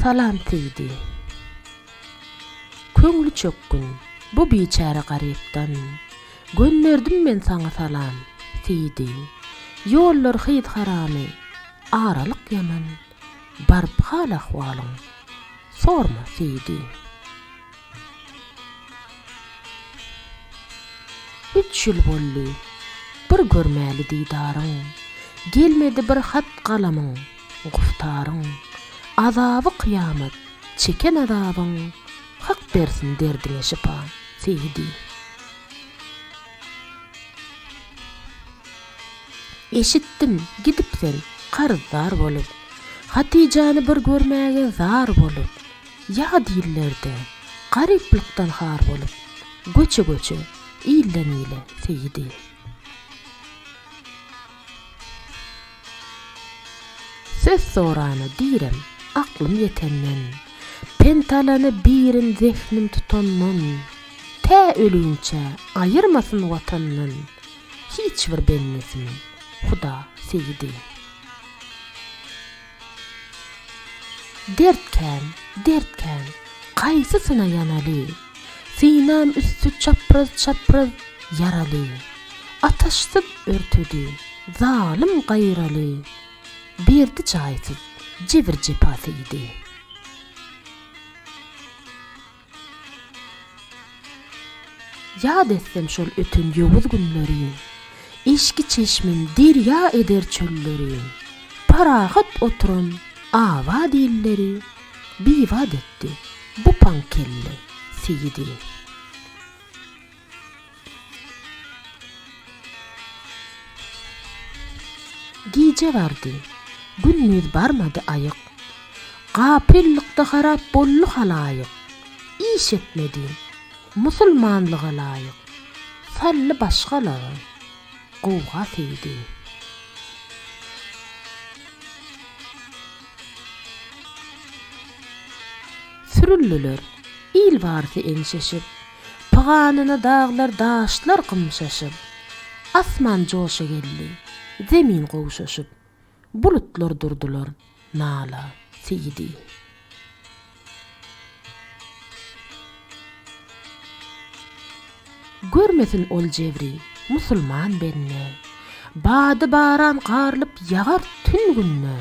Salam CD. Köňli çökgün bu biçäre garypdan Gönderdim men saňa salam CD. Ýollar hyz haramy aralyk ýaman Baryp hal ahwalyň sorma CD. Üç ýyl boldy, bir görmäli didaryň, Gelmedi bir hat galamyň, guftaryň. Azaby kyýamat, çeken azabyň, Hak bersin derdiňe şypa, Seýdi. Eşitdim, gidipsiň, karzdar bolup, Hatyjany bir görmäge zar bolup. Ýa dillerde, garyplykdan har bolup, göçe-göçe, ilden-ile seýdi. Söz sorana direm, aklym ýetenden, pent alana birin zehnim tutandan, tä ölüginçä aýyrmasyn Watandan hiç bir bendesini Huda seýdi. Dert kän, dert kän, Gaýsysyna ýanaly? Synam üsti çapraz-çapraz ýaraly. Ataşsyz örtedi, zalym gaýraly. Berdi jaýsyz jebir-jepasy idi. Ýat etsem şol öten ýowuz günleri, Eşki çeşmem derýa eder çölleri. Parahat oturan abat illeri, Bibat etdi bu paň kelle seýidi. Gije bardy. Gündiz barmady aýyk. Gapyllykda harap boldy halaýyk. Iş etmedi. Musulmanlyga laýyk. Saldy başgalara gowga seýdi. Sürüldiler il barysy eňşeşip. Pyganyna daglar-daşlar gymşaşyp, Asman joşa geldi, zemin gowşaşyp, Bulutlar durdular nala, seýdi. Görmesin ol jebri, musulman bende, Bady baran garlyp ýagar tün-günde,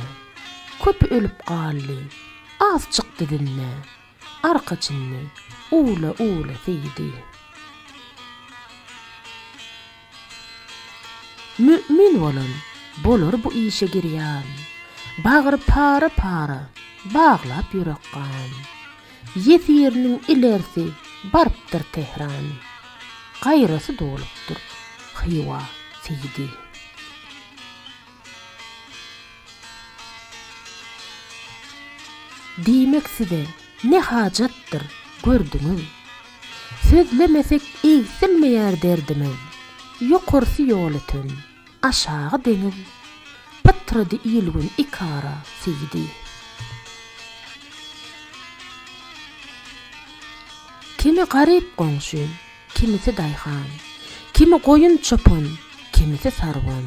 Köpi ölüp galdy, az çykdy dinde. Arkaçynly, uwla-uwla siýdi. Mü'min bolan bolar bu işe girýan. Bagry para-para, baglap ýürek gan. Ýesiriniň ilerisi barypdyr Tehran. Gaýrasy dolupdyr Hywa siýdi. Diýmek size ne hajatdyr, gördüňiz. Sözlemesek egsilmeýär derdimiz. Ýokarsy ýol öten, aşagy deňiz. Pytrady il-gün ikara siýdi. Kimi garyp goňşy. Kimisi daýhan, kimi goýun çopan, kimisi sarwan.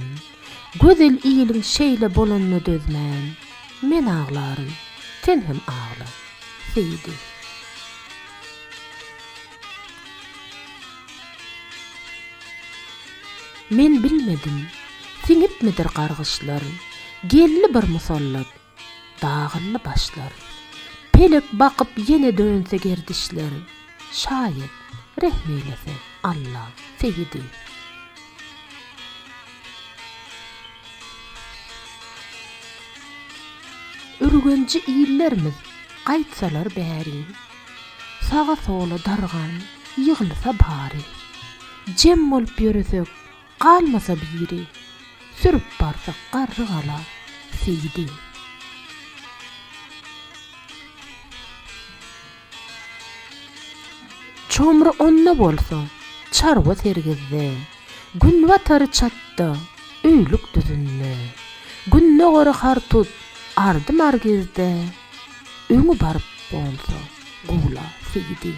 Gözel iliň şeýle bolanyna dözmän, men aglaryn, sen hem agla. Seýdi. Men bilmedim, siňipmidir gargyşlar, geldi bir musallat. Dagyldy başlar. Pelek bakyp ýene dönse gerdişler. Şaýat, rehm eýlese, Alla, Seýidi. Ürgenji illerimiz gaýtsalar bäri. Saga-sola dargan ýygylsa bary. Jem bolup ýöresek, Galmasa biri, sürüp barsak garrygala, Seýdi. Çomry onda bolsa, çarwa sergizde, Günbatary çatda, öýlük düzünde, Gündogary hartut, ardy margizde, Öňi baryp bolsa, gula, Seýdi.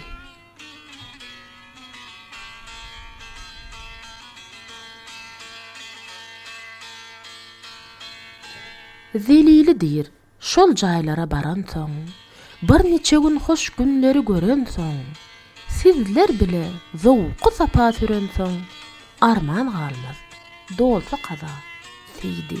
Zelili diýr, Şol jaýlara baransoň, bir niçe gün hoş günleri görensoň, sizler bile zowky-sapa sürensoň, arman galmaz, dolsa kaza, Seýdi.